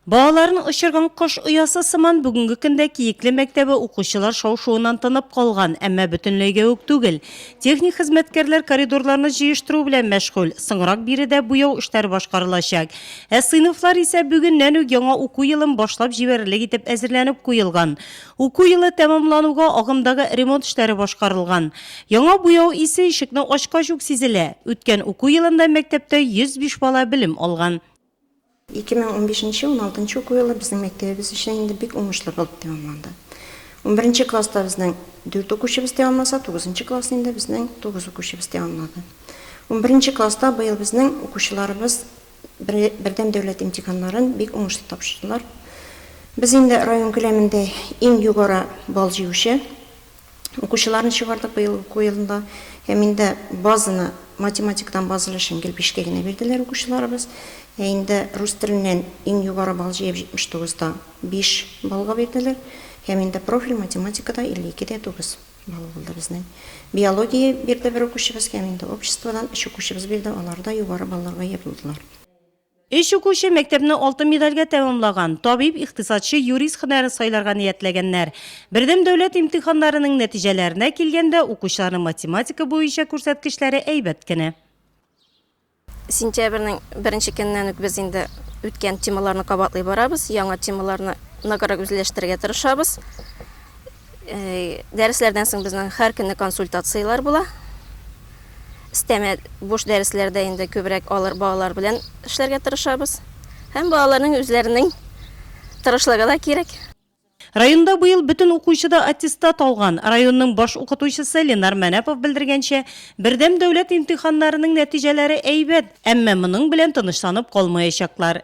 Балаларын очырган кош оясы сыман бүгенге көндә Киекле мәктәбе укучылар шау-шуыннан тынып калган, әмма бөтенләйгә үк түгел. Техник хезмәткәрләр коридорларны җыештыру белән мәшгуль, соңрак биредә буяу эшләре башкарылачак. Ә сыйныфлар исә бүгеннән үк яңа уку елын башлап җибәрерлек итеп әзерләнеп куелган. Уку елы тәмамлануга агымдагы ремонт эшләре башкарылган. Яңа буяу исе ишекне ачкач ук сизелә. Үткән уку елында мәктәптә 105 бала белем алган. Ике мең унбишенче, уналтынчы уку елы безнең мәктәбебез өчен инде бик уңышлы булып тәмамланды. Унберенче класста безнең дүрт укучыбыз тәмамласа, тугызынчы классны инде безнең тугыз укучыбыз тәмамлады. Унберенче класста быел безнең укучыларыбыз бер бердәм дәүләт имтиханнарын бик уңышлы тапшырдылар. Без инде район күләмендә иң югары балл җыючы Укучыларны чыгардык быел уку елында. Һәм инде базаны, математикадан баз өлешен гел бишкә генә бирделәр укучыларыбыз. Ә инде рус теленнән иң югары бал җыеп 79 да 5 баллга бирделәр. Һәм инде профиль математикада 52 дә 9 балл булды безнең. Биология бирде бер укучыбыз һәм инде обществодан өч укучыбыз бирде, алар да югары балларга ия булдылар. Өч укучы мәктәпне алтын медальгә тәмамлаган, табиб, икътисадчы, юрист һөнәрен сайларга ниятләгәннәр. Бердәм дәүләт имтиханнарының нәтиҗәләренә килгәндә, укучыларның математика буенча күрсәткечләре әйбәт кенә. Сентябрьнең беренче көненнән үк без инде үткән темаларны кабатлый барабыз, яңа темаларны ныграк үзләштерергә тырышабыз. Дәресләрдән соң безнең һәр көнне консультацияләр була. Истәмә буш дәресләрдә инде күбрәк алар балалар белән эшләргә тырышабыз. Һәм балаларның үзләренең тырышлыгы да кирәк. Районда быел бөтен укучы да аттестат алган. Районның баш укытучысы Ленар Мәнәпов белдергәнчә, бердәм дәүләт имтиханнарының нәтиҗәләре әйбәт, әмма моның белән тынычланып калмаячаклар.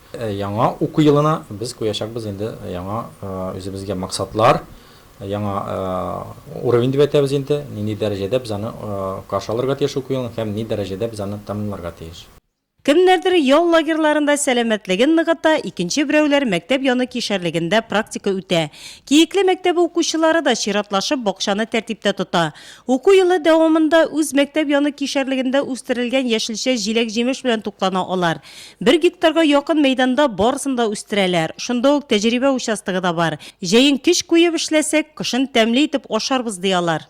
Яңа уку елына без куячакбыз инде яңа үзебезгә максатлар, яңа уровень дип әйтәбез инде, нинди дәрәҗәдә без аны каршы алырга тиеш уку елын һәм ни дәрәҗәдә без аны тәмамларга тиеш. Кемнәрдер ял лагерьларында сәламәтлеген ныгыта, икенче берәүләр мәктәп яны кишәрлегендә практика үтә. Киекле мәктәбе укучылары да чиратлашып бакчаны тәртиптә тота. Уку елы дәвамында үз мәктәп яны кишәрлегендә үстерелгән яшелчә, җиләк-җимеш белән туклана алар. Бер гектарга якын мәйданда барысын да үстерәләр. Шунда ук тәҗрибә участогы да бар. Җәен көч куеп эшләсәк, кышын тәмле итеп ашарбыз, ди алар.